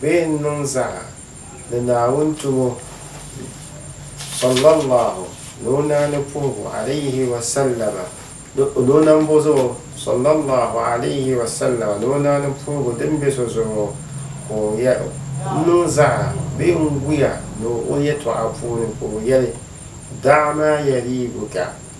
bee n niŋ zaa ni Naawuni tumo ni, sallallahu ni o naani puhibu, alayhi wasallama, ni o nambo zuɣu, sallallahu alayhi wasallama, ni o naani puhibu din be so zuɣu ka o yɛ, n niŋ zaa bee n guya ni o yɛtɔɣa puuni ka o yɛli, Da'a maa yariibuka,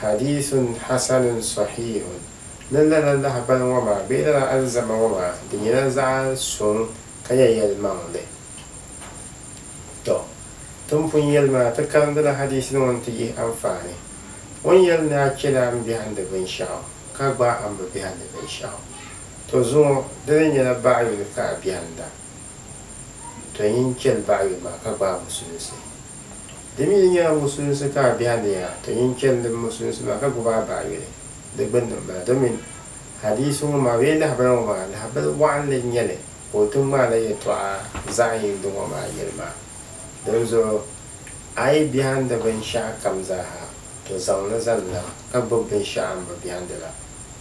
Hadiisun Hasanun Sɔhiihun, Ni lala lahibali ŋɔ maa bee lala alizama ŋɔ maa di nyɛla zaɣ suŋ ka nyɛ yɛlimaŋli. Tɔ! Ti ni pun yɛli maa, ti karindila hadiisin ŋɔ nti yihi anfaani. O ni yɛli ni a chɛla a ni biɛhindi binshɛɣu, ka gbaai a ni bi biɛhindi binshɛɣu. Tɔ zuŋɔ, di ni nyɛla baɣa yuli ka a biɛhinda. Tɔ yin chɛli baɣa yuli maa ka gbaai musulinsi. Di mi yi nyɛla musulinsi ka a be a ni a ti nyin chani di musulinsi maa ka gubi a baɣa yuli di gbinni m-bala. Domin hadiisi ŋɔ maa bee lahabana ŋɔ maa lahabali wɔɣinli n-nyɛli ka o ti ŋmaai la yɛtɔɣa zaɣ yindi ŋɔ maa yɛli maa. Dinzuɣu a yi bɛhindi binshɛɣu kam zaa ha, to zaŋ li zani la ka gbubi binshɛɣu a ni bi bɛhindi la.